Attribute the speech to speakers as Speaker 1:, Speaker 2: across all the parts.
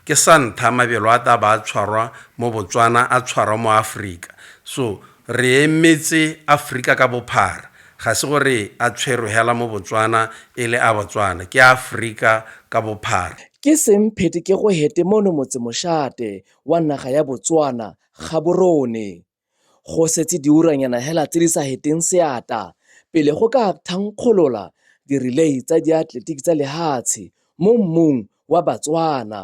Speaker 1: Ke sa ntha mabelo a taba a tshwarwa mo Botswana a tshwarwa mo Afrika so re emetse Afrika ka bophara ga se gore a tshwerwe hela mo Botswana e le a Botswana ke a Afrika ka bophara. Ke seng phete
Speaker 2: ke go hete mono motse moshate wa naga ya Botswana Gaborone. Go setse diuranyana hela tse di sa heteng seata pele go ka thankgolola dirilei tsa diatletiki tsa lehatshe mo mmung wa Batswana.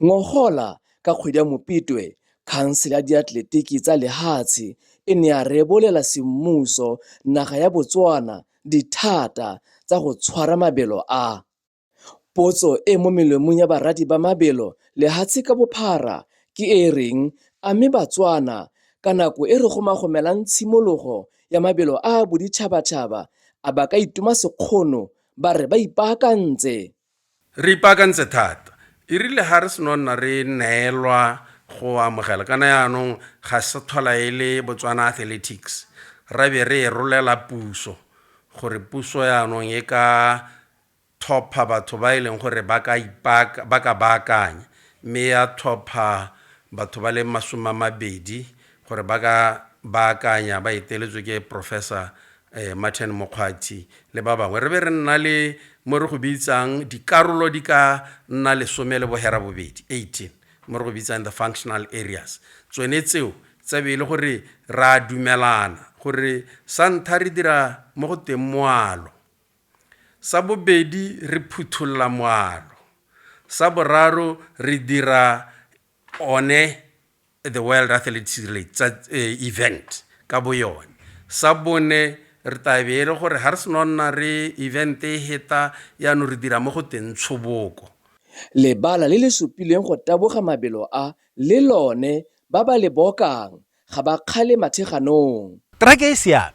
Speaker 2: Ngogola ka kgwedi ya Mopitwe, khansele ya diatletiki tsa lehatshe e ne ya rebolela semmuso naga ya Botswana dithata tsa go tshwara mabelo a. Potso e mo melomong ya baradi ba mabelo lehatshe ka bophara ke e reng a mme Batswana ka nako e re gomagomelang tshimologo ya mabelo a a boditšhabatšhaba a ba ka itoma sekgono ba re ba ipaakantse? Re
Speaker 1: ipaakantse thata. E rile ga re seno nna re neelwa go amogela kana yaanong ga se tlhola e le Botswana Athletics ra be re e rolela puso gore puso yaanong e ka thopha batho ba e leng gore ba ka ipaka, ba ka baakanya, mme ya thopha batho ba le masome a mabedi gore ba ka baakanya ba eteletswe ke Professor eh, Martin Mokgwathi le ba bangwe re be re nna le mo re go bitsang dikarolo di ka nna lesome le bohera bobedi 18 mo re go bitsang the functional areas tsone tseo tsa be e le gore ra dumelana gore sa ntha re dira mo go teng moalo Sa bobedi re phutholla moalo. Sa boraro re dira one the World Athletics Relate tsa eh, event ka bo yone. Sa bone re tabe e le gore ga re seno nna re event e heta yaanong re dira mo go teng tshoboko Lebala
Speaker 2: le le supileng go taboga mabelo a le lone ba ba le bokang ga ba kgale matheganong. Track e
Speaker 3: siame.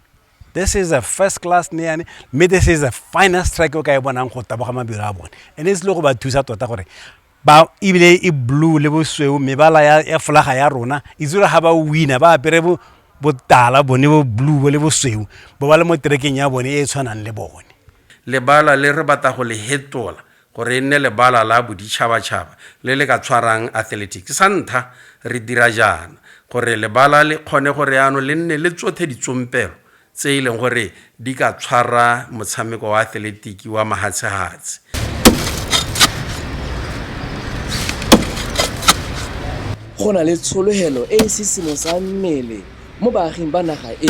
Speaker 3: This is a first class neyane mme this is a finest track o ka e bonang go taboga mabelo a bone and e se le go ba thusa tota gore ba ebile e blue le bosweu mebala ya folaga ya rona e tsere ga ba wina ba apere botala bone bo blue bo le bosweu bo ba le mo terekeng ya bone e e tshwanang le bone lebala le
Speaker 1: re batla go le hetola Gore e nne lebala la boditšhabatšhaba le le ka tshwarang athletics, sa ntha re dira jaana gore lebala le kgone gore yaanong le nne le tsothe ditsompelo tse e leng gore di ka tshwara motshameko wa athletiki wa mahatshehatse.
Speaker 2: Go na le tshologelo e e sisimosang mmele mo baaging ba naga e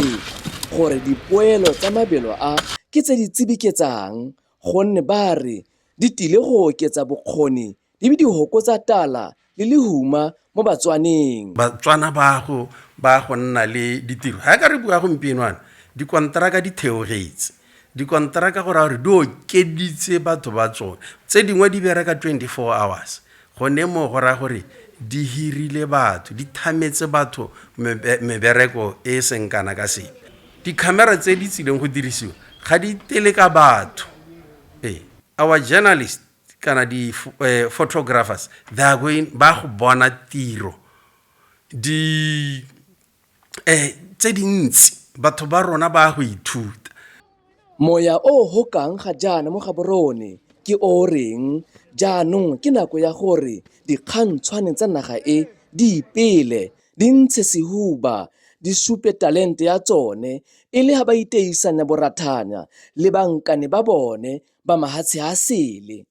Speaker 2: gore dipoelo tsa mabelo a ke tse di tsibiketsang gonne ba re di tile go oketsa bokgoni di be di hokotsa tala le lehuma mo batswaneng batswana ba
Speaker 1: go ba go nna le ditiro ga ka re bua gompienoana dikonteraka di theogetse dikonteraka go raya gore di okeditse batho ba tsone tse dingwe di bereka 24 hours Gone moo go raya gore di hirile batho, di thametse batho mebereko e e seng kana ka sepe. Dikhamera tse di tsileng go dirisiwa ga di tele ka batho. Ee, our journalist kana di-photographers they are going ba go bona tiro di um tse dintsi batho ba rona ba go ithuta Moya
Speaker 2: o o gokang ga jaana mo Gaborone ke o o reng jaanong ke nako ya gore dikgantshwane tsa naga e di ipele, di ntshe sehuba, di supe talente ya tsone e le ga ba iteisanya borathanya le bankane ba bone ba mahatshe a sele.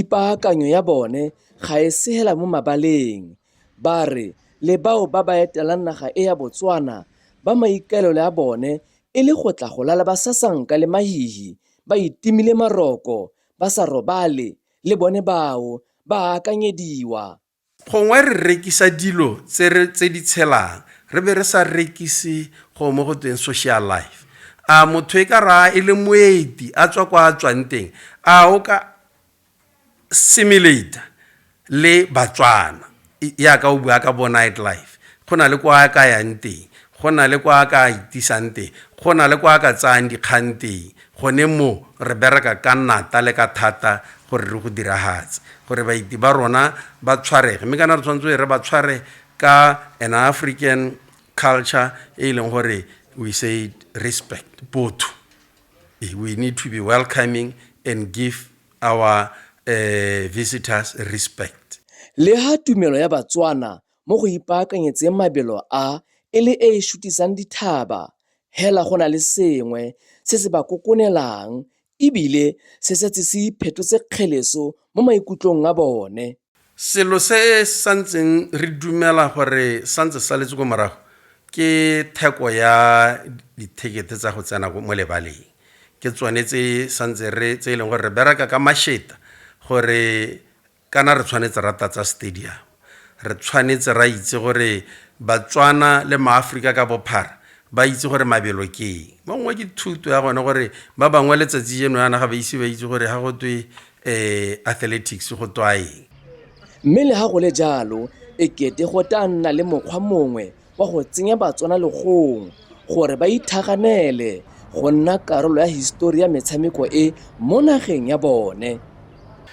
Speaker 2: Ipaakanyo ya bone ga e se hela mo mabaleng. Ba re le bao ba ba etelang naga e ya Botswana ba maikaelelo a bone e le go tla go lala ba sasanka le mahihi, ba itimile maroko, ba sa robale, le bone bao ba a akanyediwa. Gongwe re
Speaker 1: rekisa dilo tse re tse di tshelang re be re sa rekise go mo go tweng social life. A motho e ka raa e le moeti a tswa kwa a tswang teng a o ka simulator le Batswana yaka o bua ka bo night life go na le kwa a ka yang teng go na le kwa a ka itisang teng go na le kwa a ka tsayang dikgang teng Gone mo, re bereka ka nata le ka thata gore re go diragatse, gore baeti ba rona ba tshwarege. Mme kana re tshwanetse e re ba tshware ka an African culture e leng gore we say respect, botho. Eh, we need to be welcoming and give our uh, visitors respect. Leha
Speaker 2: tumelo ya Batswana mo go ipaakanyetseng mabelo a e le e e šutisang dithaba, hela go na le sengwe se se ba kokonelang e bile se setse se iphetotse kgeleso mo maikutlong a bone. Selo se
Speaker 1: santseng re dumela gore santse se saletse ko morago ke theko ya dithekete tsa go tsena mo lebaleng, ke tsone tse santse re tse e leng gore re bereka ka masheta gore kana re tshwanetse ra tatsa stadium re tshwanetse ra itse gore batswana le maaforika ka bophara ba itse gore mabelo ke eng ba ngwe ke thuto ya gone gore ba bangwe letsatsi jeno yana ga ba ise ba itse gore ga go twe um athletics go twa eng mme le ga
Speaker 2: go le jalo e kete go tla nna le mokgwa mongwe wa go tsenya Batswana legong gore ba ithaganele go nna karolo ya histori ya metshameko e mo nageng ya bone.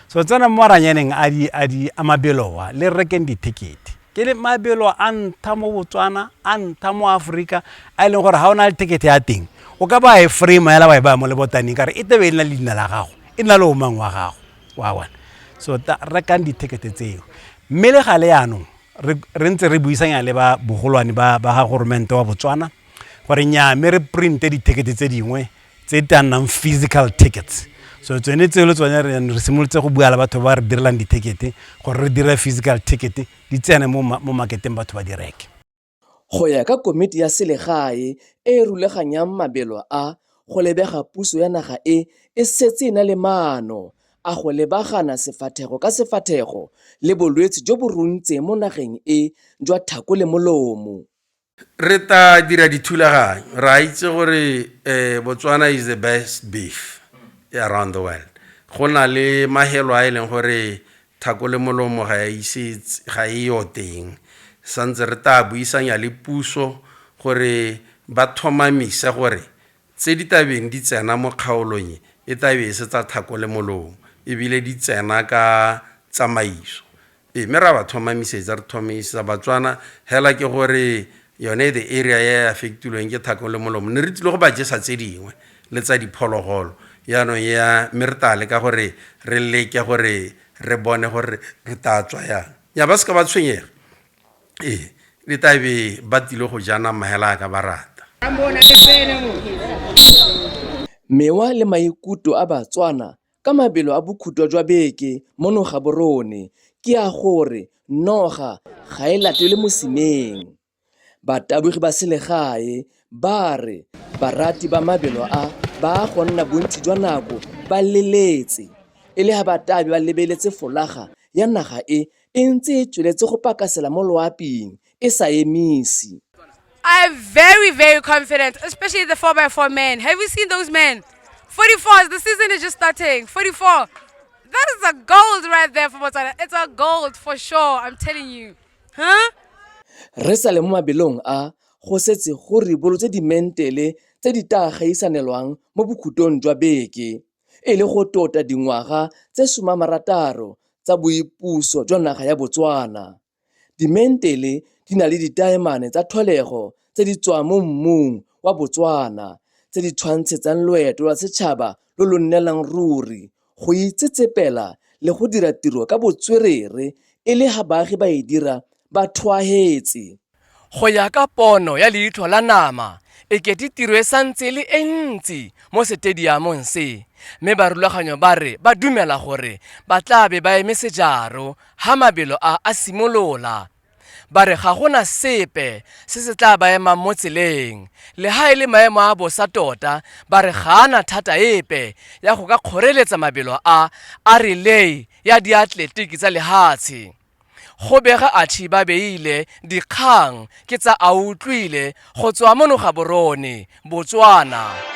Speaker 2: So tsena
Speaker 3: mo maranyaneng a di a di a mabeloa le rekeng dithekete. Ke le mabelo a ntha mo Botswana, a ntha mo Afrika, a e leng gore ha o na le thekete ya teng, o ka ba e frame ya la ba e ba mo le botaneng ka re e tebe e le na le dina la gago, e na le o mang wa gago. Wa bona. So rekang dithekete tseo. Mme le gale yanong re re ntse re buisanya le ba bogolwane ba ba ga goromente wa botswana gore nyaa mme re printe dithekete tse dingwe tse di tla nnang physical tickets so tsone tseo le tsone re re simolotse go bua le batho ba re direlang dithekete gore re dire physical ticket di tsene mo ma- mo marketeng batho ba di reke Go ya ka
Speaker 2: komiti ya selegae e e rulaganyang mabelo a, go lebega puso ya naga e e setse e na le maano a go lebagana sefathego ka sefathego le bolwetse jo bo runtseng mo nageng e jwa thako le molomo. Re ta
Speaker 1: dira dithulaganyo, ra itse gore eh, Botswana is the best beef around the world. Go na le mahelo a e leng gore thako le molomo ga e ise ga e yo teng. Santse re ta buisanya le puso gore ba thomamise gore Tse di tla beng di tsena mo kgaolong e e tla be e se tsa thako le molomo e bile di tsena ka tsamaiso e mme ra ba thomamisetsa re thomamisetsa Batswana hela ke gore yone the area ya e affectilweng ke thako le molomo ne re tlile go ba jesa tse dingwe le tsa diphologolo yaanong ya mme re tla leka gore re leke gore re bone gore re tla tswa yang ya ba se ka ba tshwenyega Ee, le tla be ba tile go ja nama hela a ka ba rata.
Speaker 2: Mewa le maikuto a Batswana ka mabelo a bokhutwa jwa beke mono Gaborone ke a gore noga ga e latelwe mosimeng. Batabogi ba selegae ba re barati ba mabelo a ba a go nna bontsi jwa nako ba leletse e le ha batabi ba lebeletse folaga ya naga e e ntse e tsweletse go pakasela mo loaping e sa emisi. I am
Speaker 4: very, very confident, especially the 4x4 men. Have you seen those men? 44s, the season is just starting. 44. That is a gold right there for Botswana. It's a gold for sure, I'm telling you. Huh? Re
Speaker 2: sa le mo mabelong a go setse go ribolotse dimentele tse di tla gaisanelwang mo bokhutong jwa beke. e le go tota dingwaga tse somamarataro tsa boipuso jwa naga ya Botswana. Dimentele di na le ditaemane tsa tlholego tse di tswang mo mmung wa Botswana tse di tshwantshetsang loeto lwa setšhaba lo lo nnelang ruri go itsetsepela le go dira tiro ka botswerere e le ga baagi ba e dira ba thwaetse. Go ya
Speaker 5: ka pono ya leitlho la nama, e kete tiro e santse e le e ntsi mo setediamong se, mme barulaganyo ba re ba dumela gore ba tla be ba eme sejaro ha mabelo a a simolola. Ba re ga gona sepe se se tla ba emang mo tseleng, le ha e le maemo a bosa tota ba re ga a na thata epe ya go ka kgoreletsa mabelo a a relay ya diatletiki tsa lehatshe. Go bega atšhi ba beile dikgang ke tsa a utlwile go tswa mo Nogaborone, Botswana.